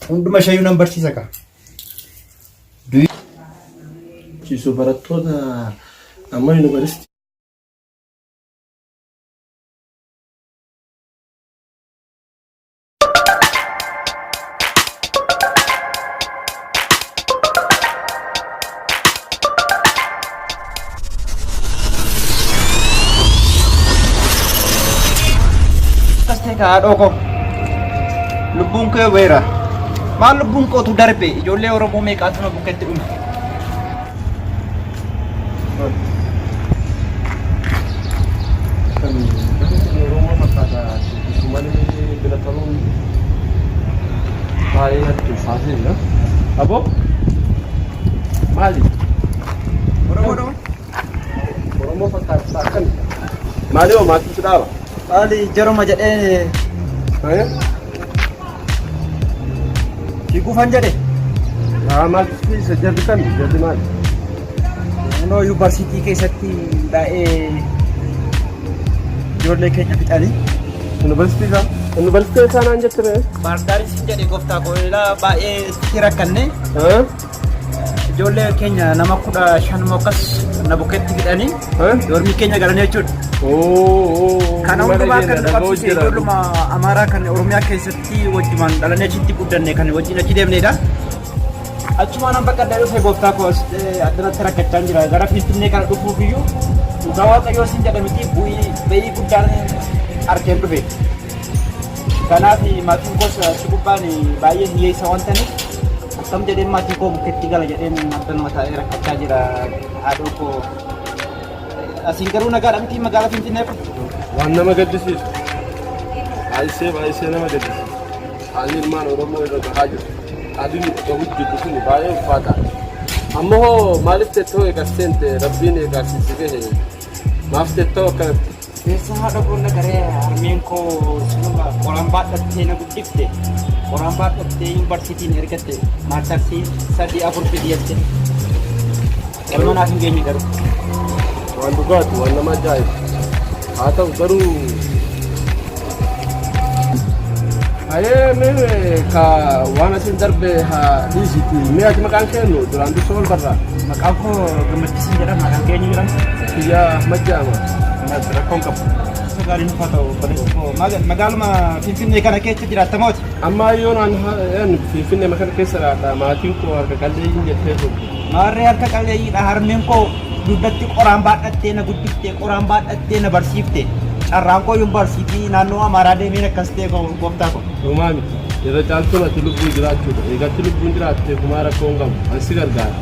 Hunduma shayyuu nan barsiisa kaa. Ciisu barattoota amma yuunivarsiitii. akkas ta'e kaa haadhoo koo lubbuun kee weera maal lubbuun kootu darbe ijoollee oromoo meeqaatu na bukketti dhume Kan gadi sun Oromoo fakkaata itti malee bira taruun baay'ee natti ulfaatee jira. Aboo maali? Oromoo dhoo? Oromoo fakkaata akkami? Maali hoo maatii si dhaaba? Haali jaruma jedhee Ayee? Si gufan jedhe. Yaa maal keessa jarri kan jarri maal? Naannoo yuunivarsiitii keessatti baay'ee ijoollee keenya fixanii. Yuunivarsiitii isaa? Yuunivarsiitii isaa naan jette ba'e? Baardaariin sin jedhe gooftaa koo ilaa baay'ee si rakkanne. Ijoollee keenya nama kudha shan moo akkas na bukkeetti hidhanii doormii keenya galanii jechuudha. Kana hundumaa kan nu qabsiise ijoolluma Amaaraa kan Oromiyaa keessatti wajjumaan dhalannee achitti guddanne kan wajjin achi deemnedha. Achumaan an baqadhee dhufee gooftaa koo as addanatti rakkachaa jira. Gara Finfinnee kana dhufuuf iyyuu dhugaa waaqayyoo siin jedha miti bu'ii ba'ii guddaan argeen dhufe. Kanaaf maatiin koos achi gubbaan baay'ee hiyyeessa waan ta'aniif Akkam jedheen maatii koo bukkeetti gala jedheen abbanuma taa'ee rakkachaa jira haadhoo koo. Asiin garuu nagaadha miti magaalaa Finfinnee kun. Waan nama gaddisiisu. Baay'isee baay'isee nama gaddisiisu. Haalli ilmaan Oromoo irra gahaa jiru. Haalli nuti gahu jirru kun baay'ee ulfaataa. Amma hoo maaliif tettoo eegas seente rabbiin eegaasiisi gahe maaf tettoo akkanatti Keessa haadha boolla garee harmeen koo cinuma qoraan baadhattee na guddifte. Qoraan baadhattee yuunivarsiitiin ergatte. Maartarsii sadii afur fidii jette. Galma naaf hin geenye garuu. Waan dhugaati waan nama ajaa'ibu. Haa ta'u garuu Hayee mee ka waan asin darbe haa dhiisiti mee ati maqaan keennu duraan dursoo ol barraa Maqaan koo gammachiisan jedhama kan keenya jedhama. kiyya Ahmad jedhama. Ahmad rakkoon qabu. Isa gaarii nuuf haa ta'u obboleessa koo. Maal- Magaaluma Finfinnee kana keessa jiraatta mooti. Amma yoo naan ha'een finfinnee kana keessa laata maatiin koo harka qalleeyyiin jettee turte. Maarree harka qalleeyyiidha harmeen koo Dugdatti qoraan baadhattee na guddifte qoraan baadhattee na barsiifte carraan koo yuunivarsiitii fi naannoo Amaaraa deemeen akkas ta'e gooftaa koo. Homaa miti. Irra caaltuun ati lubbuu jiraachuudha. Egaa ati lubbuun jiraatte homaa rakkoo hin qabu. Ani si gargaara.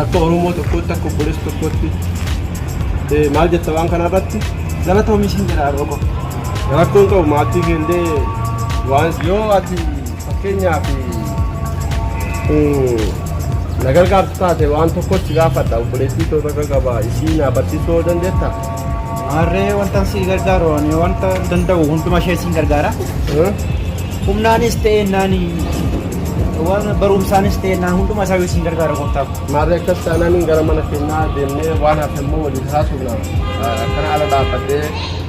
Akka Oromoo tokkootti akka obboleessa tokkootti eh, maal jetta waan kana irratti? Galatoomi siin jedha har'oo koo. Rakkoo hin qabu maatii kee illee waan Yoo ati Fakkeenyaaf na gargaartu taate waan tokkotti gaafadha obboleettii too irra gaba isii naa barsiisuu yoo dandeetta. Maarree wantan si gargaaru ani wanta danda'u hunduma ishee siin gargaara. Humnaanis ta'e naan waan barumsaanis ta'e naan hunduma isaa siin gargaara gooftaa koo. Maarree akkas taanaan gara mana keenyaa deemnee waan hafe immoo waliin haasofna. Akkana ala dhaabbadhee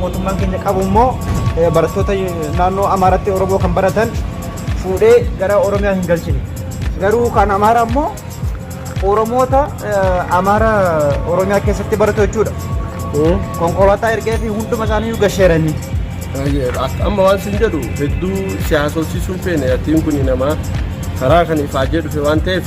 Mootummaan keenya qabu immoo barattoota naannoo Amaaratti Oromoo kan baratan fuudhee gara Oromiyaa hin galchine. Garuu kan Amaaraa immoo Oromoota Amaara Oromiyaa keessatti baratu jechuudha. Konkolaataa ergee fi hunduma isaanii gasheeranii. Amma waan sin jedhu hedduu siyaasofsiisuun feene yatiin kun namaa karaa kan ifaajee dhufe waan ta'eef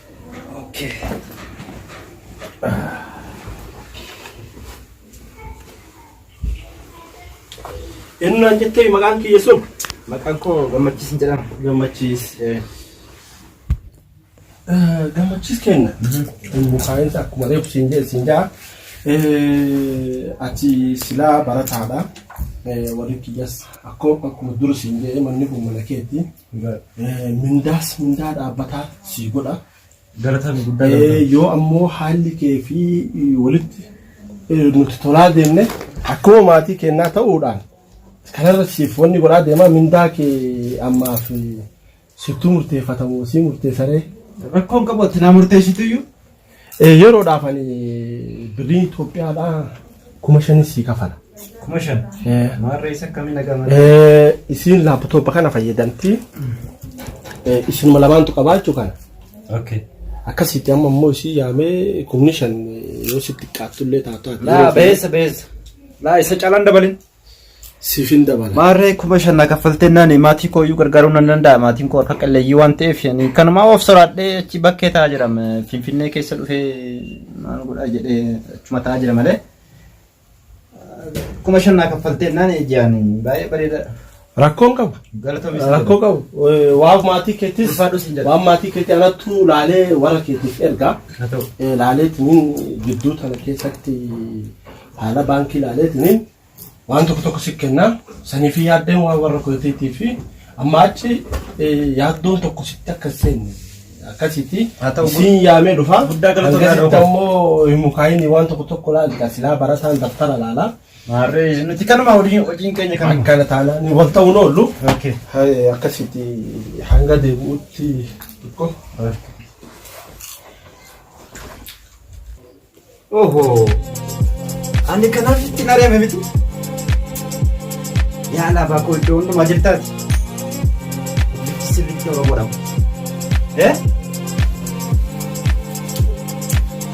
Innaan jettee maqaan kiyya sun Maqaan koo gammachiisin jedhama. gammachiis. Gammachiis kenna. Mukaa'insa akkuma reefu siin jedhe siin ja'a. Ati silaa barataadha. Warri kiyyas akkuma dura siin jedhe manni kun mana keeti. Mindaas mindaa dhaabbataa sii godha. Galataan guddaa Eh, galataan. yoo ammoo haalli kee fi walitti eh, nuti tolaa deemne akkuma maatii kennaa ta'uudhaan kanarra siif wanni godhaa deemaa mindaa kee ammaaf eh, sittuu murteeffatamu sii murteessaree Rakkoon qabu ati naa murteessituyyu. Yeroodhaaf ani birrii Itoophiyaadhaa kuma shanis sii kafala. Kuma shan. Maarree isa akkamiin dhagama? Isiin laaptooppa kana fayyadamti. Isinuma lamaantu qabaa jechuu kana. Okay. Akkasitti amma immoo isii yaamee kumni shan yoo sitti xiqqaattullee taatu. Laa beessa beessa. Laa isa calaan dabalin. siifin dabala. Maarree kuma shan na kaffaltee nani maatii koo iyyuu gargaaruu nan danda'a maatiin koo harka qalleeyyii waan ta'eef ani kanumaa of soraadhee achi bakkee taa'aa jira M- finfinnee keessa dhufee maal godhaa jedhee achuma taa'aa jira malee kuma shan na kaffaltee nani ijaan baay'ee bareeda Rakkoon qabu. Galatoomi isin Rakkoo qabu. Eh, Waan maatii keetis Ulfaadhu siin jedha. waan maatii keetii anattu laalee warra keetiif erga. Haa ta'u. Eh, Laaleetiniin gidduu tana keessatti haala baankii laaleetiniin waan tokko tokko si kenna. Sanii fi yaaddeen waan warra keetiitii fi amma achi eh, yaaddoon tokko sitti akka hin seenne akkasitti Haa ta'u. siin yaamee dhufa. Guddaa galatoomi Hangasitti haadha koo. ammoo hin mukaa'ini waan tokko tokko laalta silaa barataan daftara laalaa. Maarree nuti kanuma hojiin hojiin keenya kanuma. Akkana taanaan ni wal ta'uun oollu. Okay. Hai, Akkasitti hanga deebi'utti xiqqo. Oho. Ani kanaaf itti hin ari'ame miti. Yaa laafaa koo iddoo hundumaa jirtaati. Bifti sirriitti Oromoodha. Eh?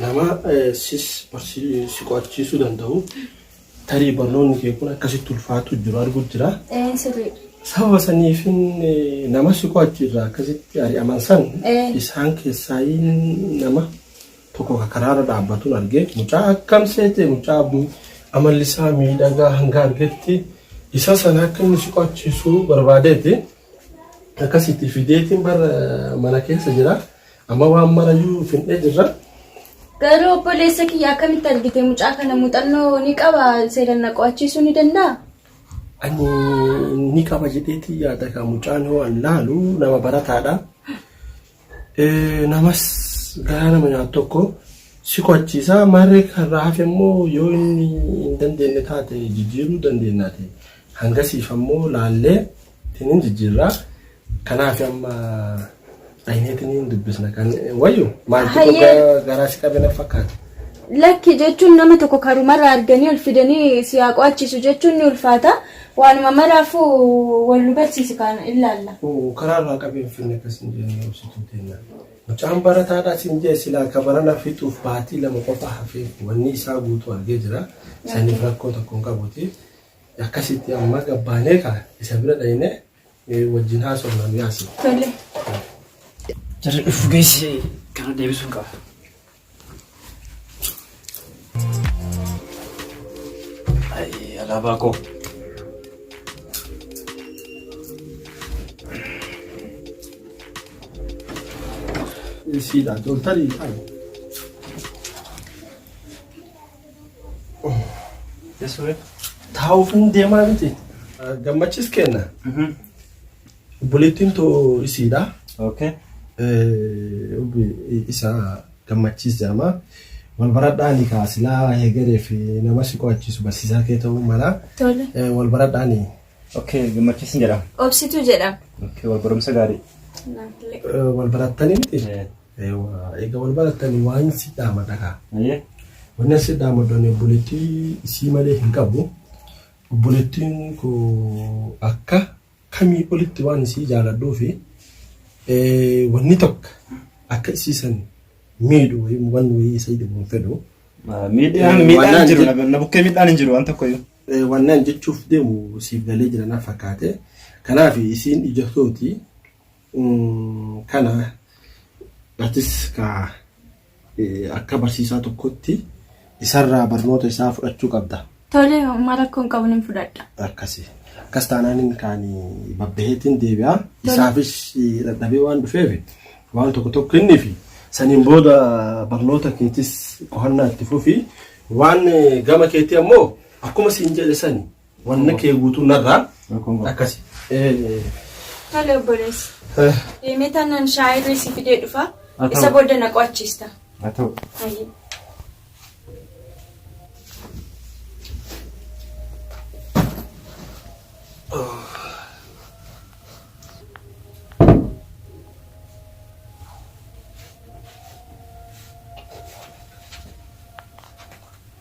Nama sis si qo'achiisuu danda'u tarii barnoonni kee kun akkasitti ulfaatu jiru arguu jira. Ee sirrii. Sababa saniifin nama si qo'achi irraa akkasitti ari'aman san Eh. isaan keessaa nama tokko ka karaarra dhaabbatuun argee mucaa akkam seete mucaa bu- amalli isaa miidhagaa hanga argetti isa sana akka inni si qo'achiisu barbaadeeti. Akkasitti fideetiin bar mana keessa jira. Amma waan marayyuu findhee jirra. Garuu obboleessa kiyya akkamitti argite mucaa kana muuxannoo ni qaba seeran na qo'achiisuu ni danda'a? Ani ni qaba jedheetii yaada kan mucaan yoo an laalu nama barataadha. namas garaa nama nyaatu tokko si qo'achiisa. Maarree kanarraa hafe immoo yoo inni hin dandeenye taate jijjiiruu dandeenya ta'e. Hangasiif ammoo laallee tiniin jijjiirraa. Kanaaf amma dhaynee tiniin dubbisna kan wayyu maaltu Hayyee. dhugaa garaa si qabe na fakkaata. Lakki jechuun nama tokko karumarraa arganii ol fidanii si haa qo'achiisu jechuun ni ulfaata. Waanuma maraafuu wal nu barsiisi kaa illaalla. Uu karaa irraa qabi hin finne akkas hin jenne obsituu tenna. Mucaan barataadha sin jee silaa ka barana fixuuf baatii lama qofa hafee wanni isaa guutuu argee jira saniif rakkoo tokko hin qabuti akkasitti amma gabbaanee kaa isa bira dhayne wajjin haasofna nu yaasi. Tole. Jarri dhufu geessi kana deebisuun qaba. Alaabaa koo. Siidhaan toltanii taa'u. Taa'uuf hin deemaa miti. Gammachiis kenna. Obboleettiin too isiidha. Okay. Obbi isa gammachiis jedhama. Wal baradhaani kaa silaa heegaree fi nama si qo'achiisu barsiisaa kee ta'uu mala. Tole. Eh, Wal baradhaani. Okay, gammachiisin jedhama. Obsituu jedhama. Okay, wal barumsa gaarii. Naafillee. Eh, Wal barattanii miti? Eh. Eh, waa- Egaa wal barattanii waan si dhaamadha kaa. Ayyee. Wanni asi dhaamaddoon obboleettii isii malee hin qabu. Obboleettiin koo akka kamii olitti waan isii jaaladhuufi wanni tokko akka isii san miidhu wayii wanni wayii isii dhibu hin fedhu. Miidhaan Eh, miidhaan wannaan hin jiru je- na bukkee miidhaan hin jiru waan tokkoyyuu. Eh, wannaan jechuuf deemu siif galee jira naaf fakkaate. Kanaaf isiin ija tooti mm, kana atis ka Akka barsiisaa tokkootti isarraa barnoota isaa fudhachuu qabda. Tole, homaa rakkoo hin qabu, nin fudhadha. Akkasi. Akkas taanaan inni kaan babbaheetiin deebi'a. Tole. Isaafis dadhabee waan dhufeef waan tokko tokko kenniifi. Saniin booda barnoota keetis qo'annaa itti fufi. Waan gama keetii ammoo akkuma siin jedhe sani Wanna kee guutuu narraa akkasi. Tole obboleessi. Deemee taanaan shaayii irra si fidee dhufa. Haa ta'u. Isa booda na qo'achiista. Haa ta'u. Ayi.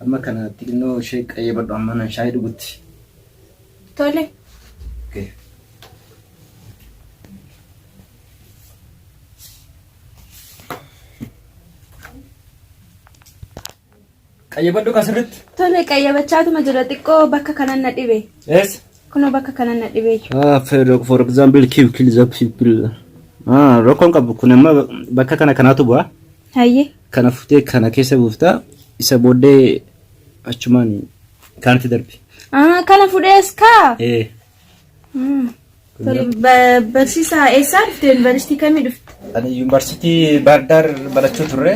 Amma kana xinnoo ishee qayyabadhu amma nan shaayii dhugutti. Tole. Okay. Qayyabadhu ka sirritti. Tole qayyabachaatuma jira xiqqoo bakka kanan na dhibe. Yes. Kunoo bakka kanan na dhibe. Ah, for, for example, kill, kill the people. Ah, rakkoon qabu kun amma bakka kana kanaatu bu'a. Hayyee. Kana futee kana keessa buuftaa isa booddee achumaan kaanitti darbi. Ah, kana fudhees kaa. Ee. Tole, ba- Barsiisaa eessaa dhufte? Yuunivarsiitii kamii dhufte? Ani yuunivarsiitii Baardaar barachuu turre.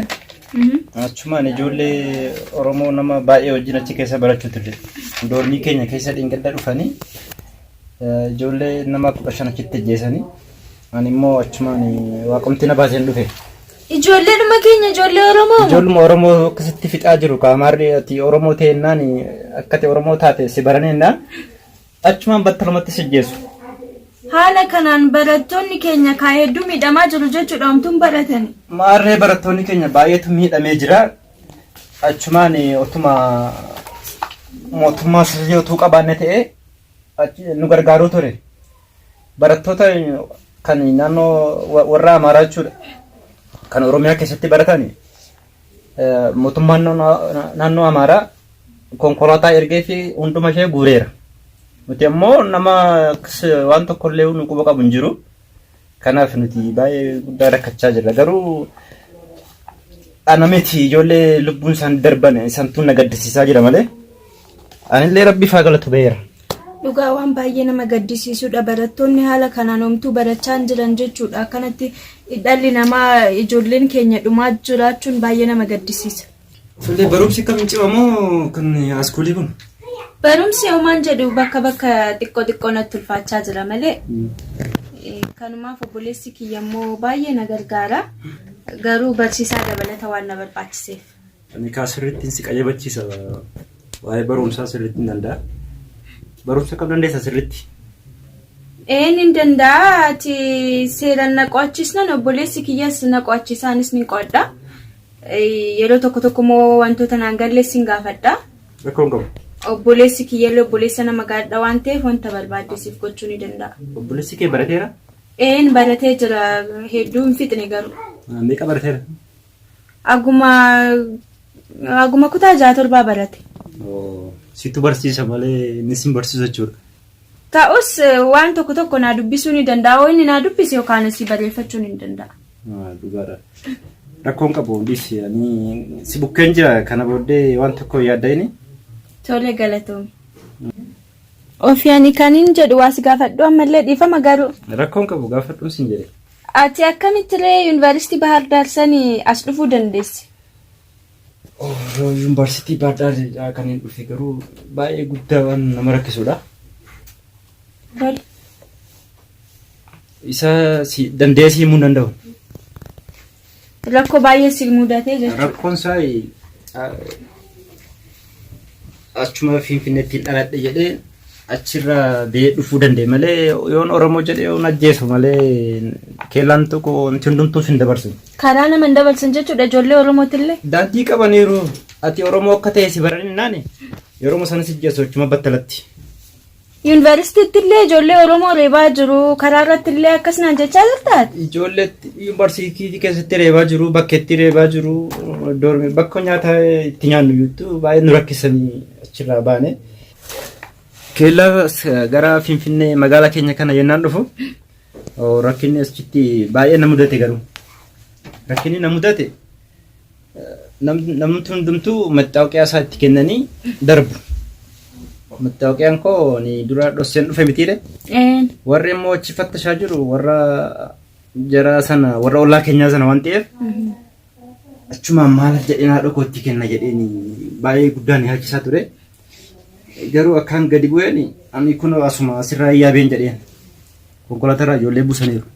Achumaan ijoollee Oromoo nama baay'ee wajjin achi keessa barachuu turre. Doormii keenya keessa dhingidda dhufanii eh, ijoollee nama kudha shan achitti ajjeesanii Ani immoo achumaan waaqumti na baaseen dhufe. Ijoollee dhuma keenya ijoollee Oromoo moo? Ijoolluma Oromoo akkasitti fixaa jiru kaamaarri ati Oromoo teennaan akkati Oromoo taate si baraneennaan achumaan battalumatti si ajjeesu. Haala kanaan barattoonni keenya kaa hedduu miidhamaa jiru jechuudha omtuun baratani. Maarree barattoonni keenya baay'eetu miidhamee jira. Achumaan otuma mootummaa sirrii otuu qabaanne ta'e achi nu gargaaruu ture. Barattoota kan naannoo warra Amaaraa jechuudha. Kan Oromiyaa keessatti baratan mootummaan naannoo Amaaraa konkolaataa ergee fi hunduma ishee guureera. Nuti ammoo nama waan tokkollee nu quba qabu hin jiru. Kanaaf nuti baay'ee guddaa rakkachaa jirra. Garuu ana miti ijoollee lubbuun isaan darban isantu na gaddisiisaa jira malee. Anillee rabbiif haa galatu ba'eera. Dhugaa waan baay'ee nama gaddisiisudha. Barattoonni haala kanaan homtuu barachaa hin jiran jechuudha. Akkanatti dhalli namaa ijoolleen keenya dhumaa jiraachuun baay'ee nama gaddisiisa. Ijoollee barumsi kam cimamoo kan askuulii kun? Barumsi homaan jedhu bakka bakka xiqqoo xiqqoo natti ulfaachaa jira malee eh, kanumaaf obboleessi kiyya immoo baay'ee na gargaara. Garuu barsiisaa dabalata waan na barbaachiseef. Ani kaa sirrittiin si qajebachiisa waa'ee barumsaa sirrittiin danda'a. Barumsa kam dandeessa sirritti? Ee nin danda'a ati seeran na qo'achiisnan obboleessi kiyyas na qo'achiisa anis nin qo'adha. Yeroo tokko tokko immoo wantoota naan galle sin gaafadha. Rakkoo hin qabu. Obboleessi kiyyallee obboleessa nama gaadha waan ta'eef wanta barbaadde siif gochuu ni danda'a. Obboleessi kee barateera? Een baratee jira hedduu hin fixne garuu. Meeqa barateera? Aguma aguma kutaa jaha torbaa barate. Oo, Situ barsiisa malee inni sin barsiisu jechuudha. Ta'us eh, waan tokko tokko naa dubbisuu ni danda'a. Yoo inni naa dubbise yookaan asii barreeffachuu ni danda'a. Ah, Dhugaadha. Rakkoon qabu dhiisi. Ani si bukkeen jira kana booddee waan tokko yaadda inni. Tole galatoomi. Ofii ani kanin jedhu waa si gaafadhu ammallee dhiifama garuu. Rakkoon qabu gaafadhuun sin jedhe. Ati akkamitti ree yuunivarsiitii Bahar Daar sani as dhufuu dandeesse? Yuunivarsiitii Bahar Daar irraa kan hin dhufe garuu baay'ee guddaa waan nama rakkisudha. Tole. Isa si dandeessee himuu hin danda'u. Rakkoo baay'ee si mudate jechuudha. Rakkoon isaa achuma Finfinneetti dhaladhe jedhee achirra biyya dhufuu danda'e malee yoon Oromoo jedhee yoon ajjeesu malee keellaan tokko wanti hundumtuu sin dabarsu. Karaa nama hin dabarsan jechuudha ijoollee Oromootillee. Daandii qabaniiru ati Oromoo akka ta'e si baraninnaan yeroo sana si ajjeesu achuma battalatti. Yuunivarsiitittillee ijoollee Oromoo reebaa jiru. Karaa irrattillee akkas naan jechaa jirtaa? Ijoollee yuunivarsiitii keessatti reebaa jiru, bakkeetti reebaa jiru, doormi bakka nyaata itti nyaannu iyyuu baay'ee nu rakkisanii achirraa baane. Keellaa gara Finfinnee magaalaa keenya kana yennaan dhufu rakkinni achitti baay'ee na mudate garuu. Rakkinni na mudate Namni hundumtuu mattaawoqiyaa isaa itti kennanii darbu. Mattaawaqiyaan koo ni dura dhosseen dhufe mitiire. Warri immoo achi fattashaa jiru warra jara sana warra ollaa keenyaa sana waan ta'eef achumaan maal jedheen haadha koo itti kenna jedheen baay'ee guddaan yaachisaa ture. Garuu akkaan gadi bu'een ani kun asuma asirraa yaabeen jedheen. konkolaataa irraa ijoollee buusaniiru.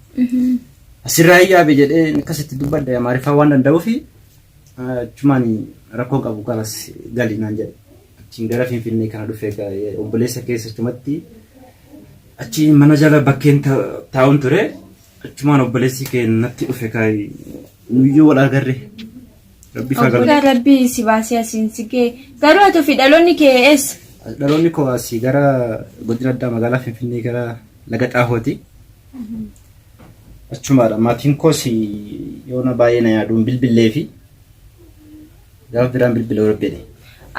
Asirraa hin yaabe jedhee akkasitti dubbadde amaariffaa waan danda'uuf achumaan rakkoo qabu kanas gali naan jedhe. Achiin gara Finfinnee kana dhufe obboleessa keessa achumatti achi mana jala bakkeen taa'uun ture achumaan obboleessi kee natti dhufe kaayi nuyyuu wal agarre Rabbi isaa Obbolaa galata. rabbii si baasee asiin si gee. Garuu ati ofii dhaloonni kee eessa? Dhaloonni koo asii gara godina addaa magaalaa Finfinnee gara laga xaahooti. Achumaadha. Maatiin koos yoona baay'ee na yaaduun bilbillee fi gaafa biraan bilbilee rabbine.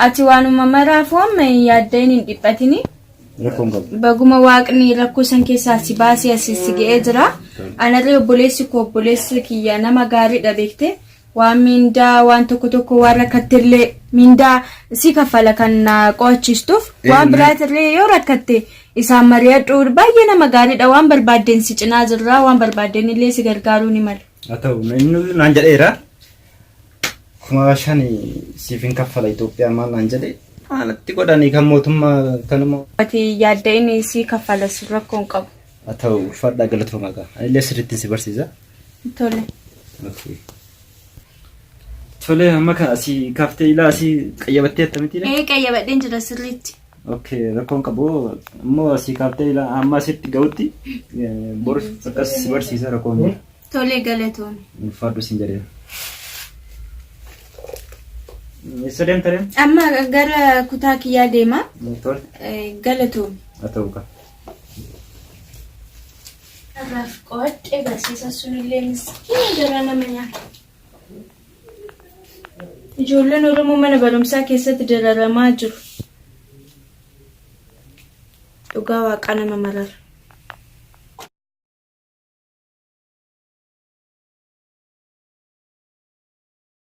Ati waanuma maraafuu amma hin yaadda'in hin dhiphatini. Rakkoon qabu. Baguma waaqni rakkoo san keessaa si baasee asiin si ga'ee jira. Anarree obboleessi koo obboleessi kiyya nama gaariidha beekte. waan miindaa waan tokko tokko waan rakkattellee miindaa si kaffala kan na qo'achiistuuf Eh, waan na- biraatirree yoo rakkatte isaan mari'adhu baay'ee nama gaariidha waan barbaaddeen si cinaa jirra waan barbaaddeen illee si gargaaruu ni mala. haa ta'u inni naan jedheera kuma shan siif hin kaffala Itoophiyaa maal naan jedhe maalatti godhanii kan mootummaa kanuma Ati yaadda inni si kaffala si rakkoon qabu. haa ta'u fadhaa galatooma gaa anillee sirriitti si barsiisa Tole. Okay. Tole amma kan asii kaaftee ilaa asii qayyabattee attamitti Ee qayyabadheen jira sirriitti. Okay rakkoon qabu immoo asii kaaftee ilaa amma asitti ga'utti eh, bor akkas si barsiisa rakkoon jiru. Tole galatoomi. Ulfaadhu siin jedhee. Eessa deemta deemta? Amma gara kutaa kiyyaa deema. Tole Eh, galatoomi. haa ta'u qaba. Har'aaf qo'adhe barsiisa sunillee miskiina garaa nama nyaata. Ijoolleen Oromoo mana barumsaa keessatti dararamaa jiru. Dhugaa waaqaa nama marara.